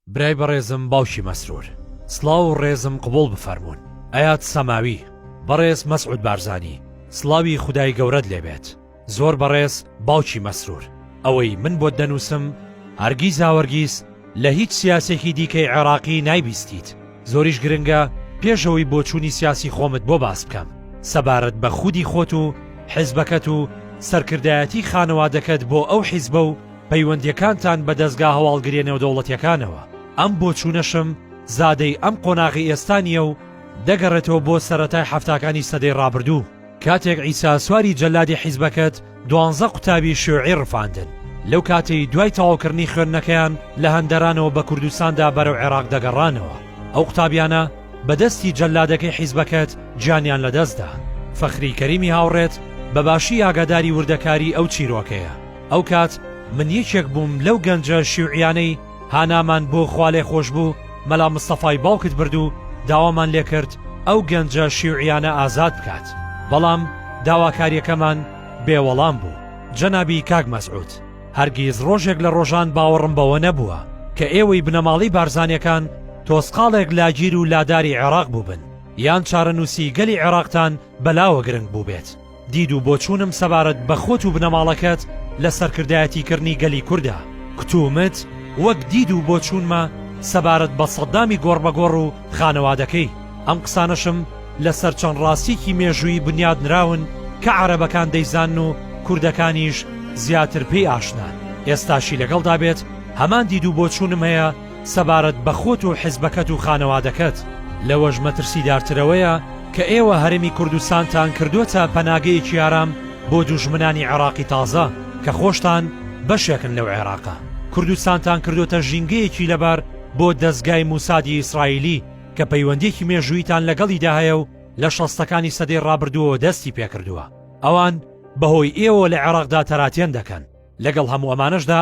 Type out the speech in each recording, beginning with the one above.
برای بەڕێزم باوکی مەسرور. سڵاو و ڕێزم قبوڵ بفەرموون ئەیاد سەماوی بەڕێز مەسعود بارزانی سڵاوی خودای گەورەت لێبێت زۆر بەڕێز باوکی مەسرور ئەوەی من بۆت دەنووسم هەرگیزاوەرگیز لە هیچ سیاسێکی دیکەی عێراقی نایبیستیت زۆریش گرنگە پێشەوەی بۆچوونی سیاسی خۆمت بۆ باس بکەم سەبارەت بە خودی خۆت و حزبەکەت و سەرکردایەتی خانەوادەکەت بۆ ئەو حیزبە و پەیوەندیەکانتان بە دەزگا هەواڵگریە نێودەوڵەتیەکانەوە. ئەم بۆچوونەشم زادەی ئەم قۆناغی ئێستا نیە و دەگەڕێتەوە بۆ سەرەتای حەفتاکانی سەدەی ڕابردوو کاتێک عیسا سواری جەلادی حیزبەکەت دوانزە قوتابی شیوعی ڕفاندن لەو کاتەی دوای تەواوکردنی خوێندنەکەیان لە هەندەرانەوە بە کوردستاندا بەرەو عێراق دەگەڕانەوە ئەو قوتابیانە بە دەستی جەلادەکەی حیزبەکەت گیانیان لەدەستدا فەخری کەریمی هاوڕێت بە باشی ئاگاداری وردەکاری ئەو چیرۆکەیە. ئەو کات من یەکێک بووم لەو گەنجە شیوعیانەی هانامان بۆ خوالێخۆشبوو مەلا مستەفای باوکت برد و داوامان لێکرد ئەو گەنجە شیوعیانە ئازاد بکات بەڵام داواکاریەکەمان بێ وەڵام بوو جەنابی کاک مەسعود هەرگیز ڕۆژێک لە ڕۆژان باوەڕم بەوە نەبووە کە ئێوەی بنەماڵەی بارزانیەکان تۆسقاڵێک لاگیر و لاداری عێراق بووبن یان چارەنووسی گەلی عێراقتان بەلاوە گرنگ بووبێت. دید و بۆچوونم سەبارەت بە خۆت و بنەماڵەکەت لە سەرکردایەتیکردنی گەلی کورددا، کوتومت وەک دید و بۆچوونمە سەبارەت بە سەددامی گۆڕبەگۆڕ و خانەوادەکەی، ئەم قسانەشم لەسەر چەند ڕاستیەکی مێژوویی بنیادنراون کە عەرەبەکان دەیزانن و کوردەکانیش زیاتر پێی ئاشنان، ئێستاشی لەگەڵدا بێت هەمان دید و بۆچوونم هەیە، سەبارەت بە خۆت و حزبەکەت و خانەوادەکەت، لەوەش مەترسیدارترەوەیە کە ئێوە هەرێمی کوردستانتان کردووەتە پەناگەیەکی ئارام بۆ دوژمنانی عێراقی تازە کە خۆشتان بەشێکن لەو عێراقە، کوردستانتان کردووەتە ژینگەیەکی لەبار بۆ دەزگای موسادی ئیسرائیلی کە پەیوەندیەکی مێژوویتان لەگەڵیدا هەیە و لە شەستەکانی سەدەی ڕابردووەوە دەستی پێکردووە، ئەوان بەهۆی ئێوەوە لە عێراقدا تەراتێن دەکەن، لەگەڵ هەموو ئەمانەشدا،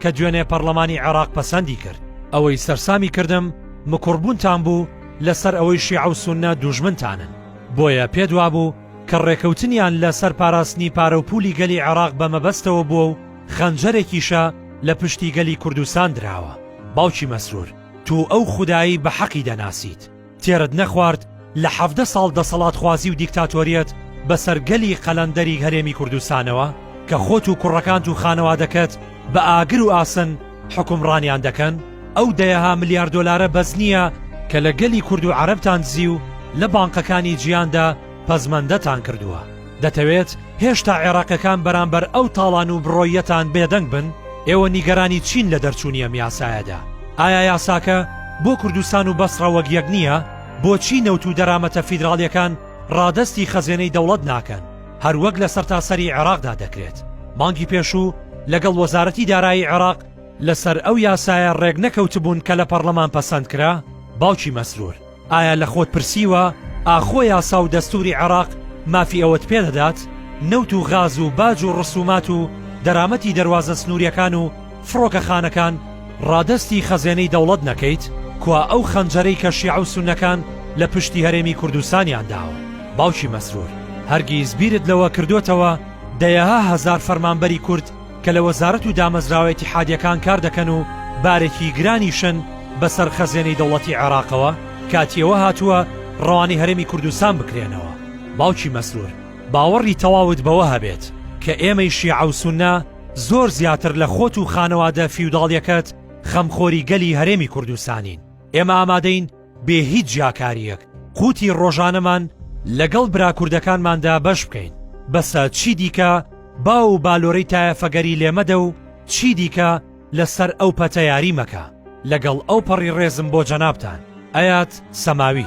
کە دوێنێ پەڕلەمانی عێڕاق پەسەندی کرد. ئەوەی سەرسامی کردم مکوڕ بوونتان بوو لە سەر ئەوەی شیعە و سوننە دووژمنتانن، بۆیە پێت وابوو کە ڕێکەوتنیان لە سەر پاراستنی پارە و پوولی گەلی عێڕاق بە مەبەستەوە بووە و خەنجەرێکیشە لە پشتی گەلی کوردستان دراوە. باوکی مەسرور، توو ئەو خودایەی بە حەقی دەناسیت. تێرت نەخوارد لە حەڤدە ساڵ دەسەڵاتخوازی و دیکتاتۆریەت بەسەر گەلی قەلەندەری هەرێمی کوردستانەوە کە خۆت و کوڕەکانت و خانەوادەکەت بە ئاگر و ئاسن حوکمڕانیان دەکەن ئەو دەیەها ملیار دۆلارە بەس نییە کە لە گەلی کورد و عەرەبتان دزی و لە بانقەکانی جیهاندا پەزمەندەتان کردووە. دەتەوێت هێشتا عێراقیەکان بەرامبەر ئەو تاڵان و بڕۆییەتان بێدەنگ بن؟ ئێوە نیگەرانی چین لە دەرچوونی ئەم یاسایەدا؟ ئایا یاساکە بۆ کوردستان و بەسڕە وەک یەک نییە؟ بۆچی نەوت و دەرامەتە فیدراڵیەکان ڕادەستی خەزێنەی دەوڵەت ناکەن، هەروەک لە سەرتاسەری عێراقدا دەکرێت؟ مانگی پێشوو لەگەڵ وەزارەتی دارایی عێراق لەسەر ئەو یاسایە ڕێکنەکەوتبوون کە لە پەڕلەمان پەسەندکرا، باوکی مەسرور. ئایا لە خۆت پرسیوە ئاخۆ یاسا و دەستوری عێراق مافی ئەوەت پێدەدات نەوت و غاز و باج و ڕسومات و دەرامەتی دەروازە سنووریەکان و فڕۆکە خانەکان ڕادەستی خەزێنەی دەوڵەت نەکەیت کوا ئەو خەنجەرەی کە شیعە و سونەکان لە پشتی هەرێمی کوردستانیان داوە باوکی مەسرور هەرگیز بیرت لەوە کردۆتەوە دەیەها هەزار فەرمانبەری کورد کە لە وەزارەت و دامەزراوە ئیتیحادیەکان کار دەکەن و بارێکی گرانیشن بەسەر خەزێنەی دەوڵەتی عێراقەوە کاتی ئەوە هاتووە ڕەوانەی هەرێمی کوردستان بکرێنەوە. باوکی مەسرور باوەڕی تەواوت بەوە هەبێت کە ئێمەی شیعە و سوننە زۆر زیاتر لە خۆت و خانەوادە فیوداڵیەکەت خەمخۆری گەلی هەرێمی کوردستانین ئێمە ئامادەین بێ هیچ جیاکارییەک قوتی ڕۆژانەمان لەگەڵ براکوردەکانماندا بەش بکەین بەسە چی دیکە با و بالۆرەی تایەفەگەری لێمەدە و چی دیکە لەسەر ئەو پەتە یاری مەکە لەگەڵ ئەو پەڕی ڕێزم بۆ جەنابان ئەات سەماوی.